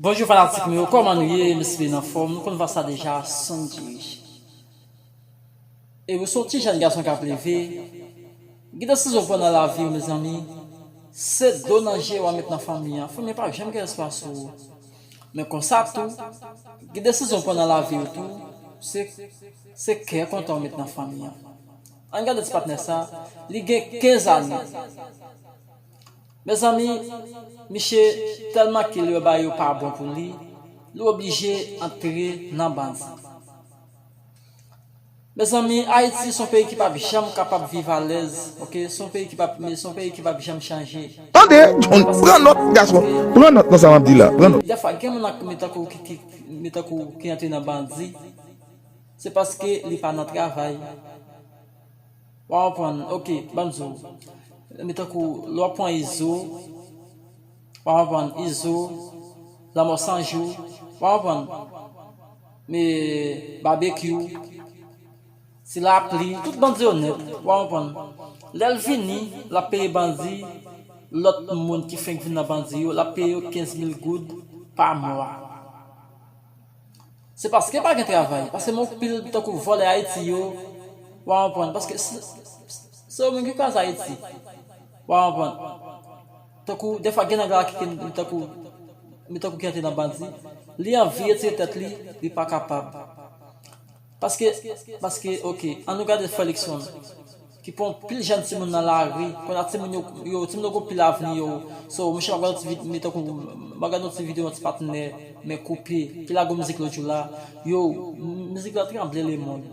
Bonjou fanatik mwen yo kòman nou ye m espere n anfòm nou konn vwa sa deja sonny diriche e ou se yon ti jèn gason kap leve gen desizyon ou pran nan laviw mezanmi se dlo nan je wap met nan fanmi an fanmi an pap janm gen espwa sou ou men konsa tou gen desizyon ou pran nan laviw tou se se kè kontan ou met nan fanmi an ann gade ti patnè sa li gen 15 ane. Mezanmi miche telman kil yo bay yo pa bon pou li, li oblije antre nan bandi. Mezanmi ayiti son peyi ki pap janm kapab viv alèz ok son peyi ki pap me son peyi ki pap janm chanje. Tande John pran nòt gason pran nòt nan sa map di la pran nòt. Dèfwa gen moun ak mi tankou mi tankou ki antre nan bandi se paske li pa nan travay. Waw prann ok banm zo. Mezanmi tankou lè wap pran izo wap aprann izo, lanmò san jou wap aprann e babekyou, ti lapli tout bandi yo nèt wap aprann lèl vini lap peye bandi lòt moun ki fenk vin nan bandi yo lap peye yo 15 mil goud pa mwa. Se paske pa gen travay, paske men yon pil tankou vòlè Ayiti yo, wa konprann, paske se yo menm ki kraze Ayiti, wa konprann. Tankou defwa gen nèg la ki gen tankou gen tankou ki antre nan bandi, li anvi retire tèt li, li pa kapab. Paske, paske ok, an nou gade frè Luckson, ki pran pil jèn timoun nan lari, konnya timoun yo, yo, timoun yo gon pil avni yo, so monchè map gade yon ti vid, me tankou, map gade yon ti video yon ti patnè, men koupe, ki lage yon mizik lòt jou la, yo, mizik la tranble le mond.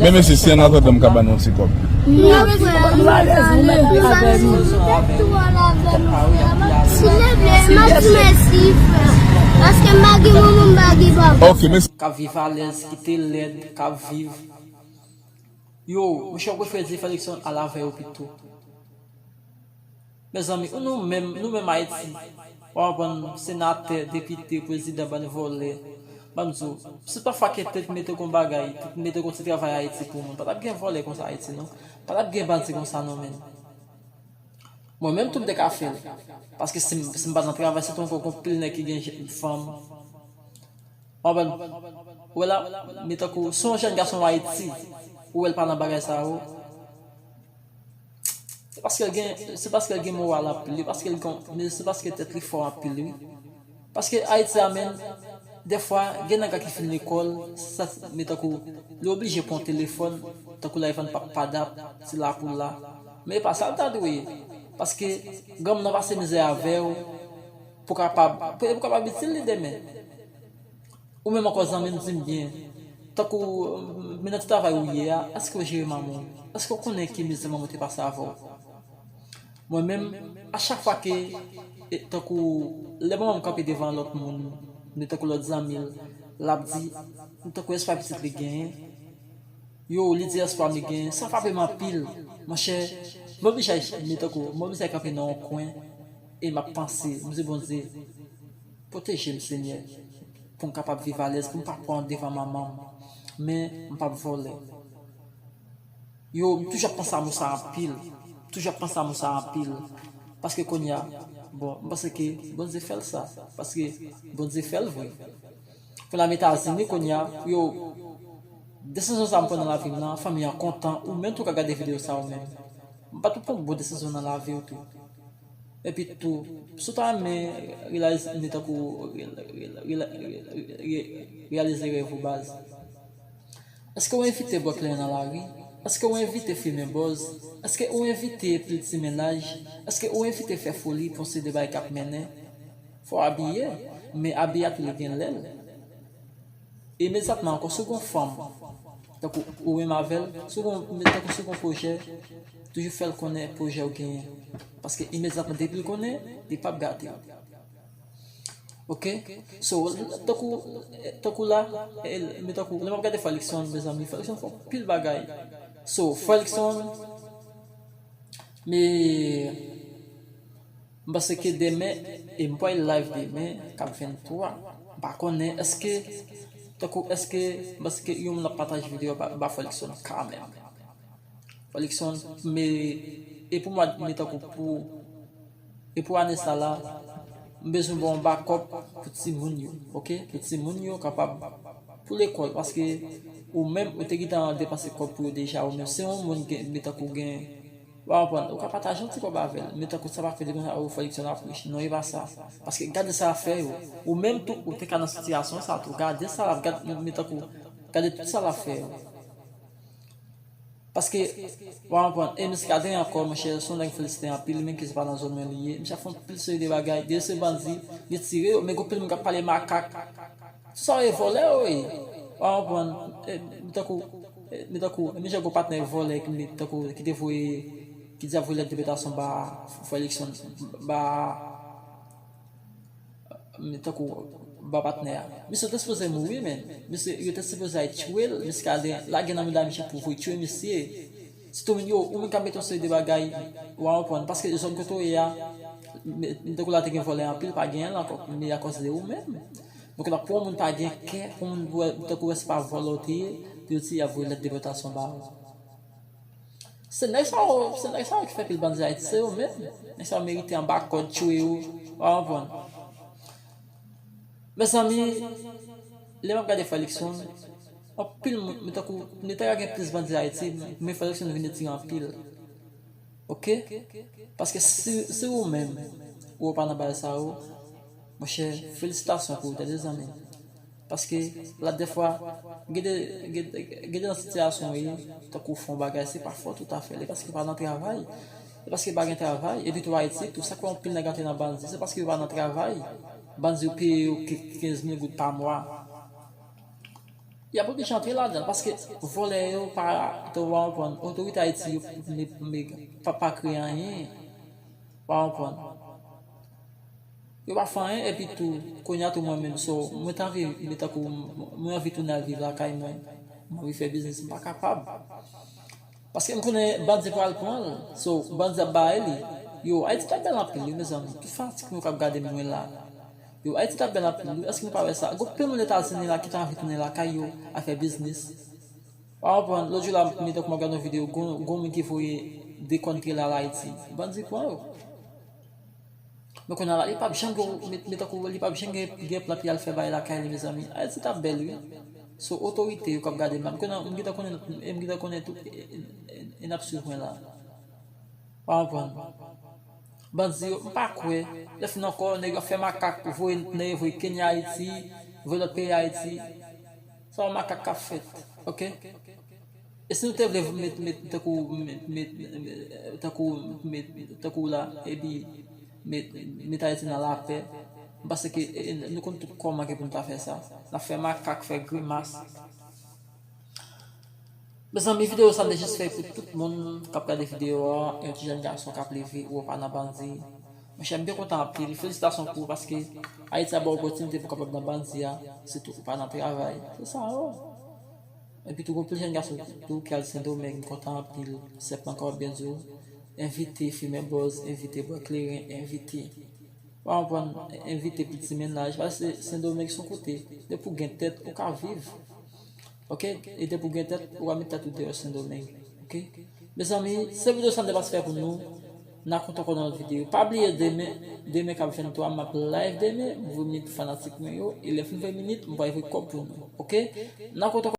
Men mesye si an atandan m ka ba nou yon ti kòb. Ok mesi. Kap viv alèz kite lèd kap viv yo monchè ou prefere Dyfèlix an al avè yo pito. Mezanmi ou nou menm nou menm ayiti wap aprann senatè depite prezidan bann vòlè bann zo si pa fwa ke te t mete kon bagay te t mete kon ti travay ayiti pou moun patap gen vòlè konsa ayiti non patap gen bandi konsa non menn mwen menm tou m te ka fèl paske sim sim pat nan travay sitou ankò gon pil nèg ki gen je fanm wap aprann ou wè la men tankou si yon jèn gason ayiti ou wèl pa nan bagay sa yo. Se paske l gen, se paske l gen moral anpil wi, paske l gon, men se paske tèt li fò anpil wi. Paske Ayiti a menn, dèfwa gen nèg la ki fin lekòl, sa ti, men tankou li oblije pran yon telefòn, tankou la li vann pap padap, se la pou la. Men e pa sa l ta dwe ye. Paske granmoun nan pase mizè avè w, pou kapab, pou e pou kapab itil li demen. Ou menm ankò zanmim dim byen, tankou men nan ti travay ou ye a, èskew jere manmanw? Èskew konnen ki mizè manmanw te pase avèw? Mwen menm, a chak fwa ke tankou lè manmanm kanpe devan lòt moun ni tankou lòt zanmil, lap di tankou espwa pitit li genyen, yo li di espwa mi genyen, sa frapem anpil, monchè mwen oblije men tankou mwen oblije kanpe nan yon kwen e map panse, mdi Bondye. Pwoteje m senyè pou m kapab viv alèz pou m pa pran devan manman m men m pap vòlè yo m toujou ap panse a mo sa anpil m toujou ap panse a mo sa anpil paske konnya bon m panse ke Bondye fè l sa paske Bondye fè l vre pou n al etazini konnya pou yo desizyon sa m pran nan lavi m nan fanmi an kontan ou menm tou ka gade videyo sa ou menm m pat pou pran bon desizyon nan lavi w tou. Epi tou, si w ta renmen reyalize ide tankou reyalize rèv ou baz. Eske ou envite bwè kleren nan lari? Eske ou envite fimen bòz? Eske ou envite pil ti mennaj? Eske ou envite fè foli pou yon seri de bagay k ap mennen? Fò w abiye, men abiye a toujou gen lè l. Imedyatman ankò, si w gen yon fanm, tankou ou menm avè l, si w gen yon, tankou si w gen yon pwojè, toujou fè l konnen pwojè ou genyen. Paske imedyatman depi l konnen, li pap gate l. Ok? So, tankou, tankou la, men tankou, lè m ap gade Frè Luckson, mezanmi, Frè Luckson fè yon pil bagay. So, Frè Luckson, me. M panse ke demen e m pwal live demen kap 23 m pa konnen eske tankou eske m panse ke yon moun ap pataje video a m pa folikson kanmenm folikson me e pou mwad me tankou pou e pou ane sa la m bezwen ba w yon bakòp pou timoun yo ok pou timoun yo kapab pou lekòl paske ou menm ou te gentan depanse kòb pou yo deja ou menm se yon moun gen me tankou gen. Wap aprann, ou ka pataje yon ti kob avel, men tankou sa pa vle di konsa ou fè diksyon lap rich, non e pa sa, paske gade sa lap fè yo, ou menm tou ou te ka nan sitiyasyon sa tou, gade sa lap gad men tankou gade tout sa lap fè yo, paske wap aprann, e misye ka genyen ankò monchè, son nèg m felisite anpil li menm ki se pa nan zòn mwen li ye, misye ap fè yon pil seri de bagay, dèyè se bandi, li tire yo, men gen yon pil moun kap pale makak. Sa w ye vòlè w ye? Wa konprann mi tankou mi tankou menm jan gen yon patnè vòlè ki met tankou ki te voye ki di l ap voye lèt depotasyon ba fo eleksyon ba mi tankou ba patnè a. Misye te sipoze mouri menn. Misye yo te sipoze al tchwe l, misye ka gen lage nan mouda misye pou voye tchwe misye. Ti Domingo, ou menm k ap mete yon seri de bagay, w a konprann. Paske zòn kote w ye a, m tankou la te gen vòlè anpil, pa genyen l ankò. Men e akòz de ou menm. Donk la pou yon moun pa gen kè, pou yon moun tankou wè se pa vòlè w te ye, pou yo di y ap voye lèt depòtasyon ba ou. Se nèg sa yo, se nèg sa yo ki fè pil bandi Ayiti. Se yo menm. Nèg sa yo merite anba kòd, tchwe yo. W a konprann. Mezanmi, lè m ap gade frè Likson. Anpil moun men tankou nou ta ka gen plis bandi ayiti men fòk eleksyon nou vin retire anpil ok paske si ou menm ou pa nan bagay sa yo monchè felisitasyon pou ou tande zanmim paske la dèfwa gede gede nan sitiyasyon ou ye tankou ou fè yon bagay se pa fòt ou ta fèl e paske ou pa nan travay e paske pa gen travay epi tou ayiti tou sak fè anpil nèg antre nan bandi se paske yo pa nan travay bandi yo peye yo kenz mil goud pa mwa. Yap oblije antre ladanl paske vòlè yo pa ou pa konprann otorite ayiti yo pa kreye anyen ou pa konprann yo pa fè anyen epi tou kounya tou mwen menm so mwen ta anvi mwen tankou mwen anvi tounen al viv lakay mwen mwen anvi fè biznis mwen pa kapab Paskem konnen bandi pral pranl so bandi ap bare li yo ayiti tap bèl anpil wi mezanmi ki fatik nou kap gadem mwen la yo ayiti tap bèl anpil wi èske nou pa wè sa gon pil moun etazini la ki ta anvi tounen lakay yo al fè biznis pa konprann lòt jou la m metan kou map gad yon video gon gon moun ki voye de kòn trela al ayiti bandi pran yo. Men kounye a la li pap janm gen yon men tankou li pap janm gen plant li al fè bay lakay li mezanmi. Ayiti t ap bèl wi. So otorite yo k ap gade m la. M konnen m gentan konnen m gentan konnen tout e n ap swiv mwen la. Pa konprann. Bandi yo m pa kwè. Lè fin ankò nèg yo ap fè makak voye nèg yo voye Kenya Ayiti, voye lòt peyi Ayiti. Se pa makak k ap fèt. Ok. E si nou te vle vin met met tankou met met tankou met tankou la epi met met Ayiti nan lapè, m panse ke nou konn tout kòman ke pou nou ta fè sa. N ap fè makak, fè grimas. Mezanmi videyo sa m te jis fè pou tout moun k ap gade videyo a, yon ti jèn gason k ap leve ou wè w pa nan bandi. Monchè m te kontan anpil. Felisitasyon pou ou paske Ayiti ap ba w opòtinite pou w kapab nan bandi a sitou ou pa nan travay. Se sa yo. Epi tou gon pil jèn gason tou ki al sendomeng m kontan anpil sèp anka w byen di w envite fimen bòz envite bwè kleren envite pa konprann envite piti mennaj pase sendomeng son kote depi w gen tèt ou ka viv ok e depi w gen tèt ou ka met tèt ou deyò sendomeng ok mezanmi se video sa m te pase fè pou nou n a kontre ankò nan lòt video pa bliye demen demen k ap 23 m ap live demen m voye minit pou fanatik mwen yo e lè fim voye minit m pral voye kòb pou nou ok n a kontre ankò.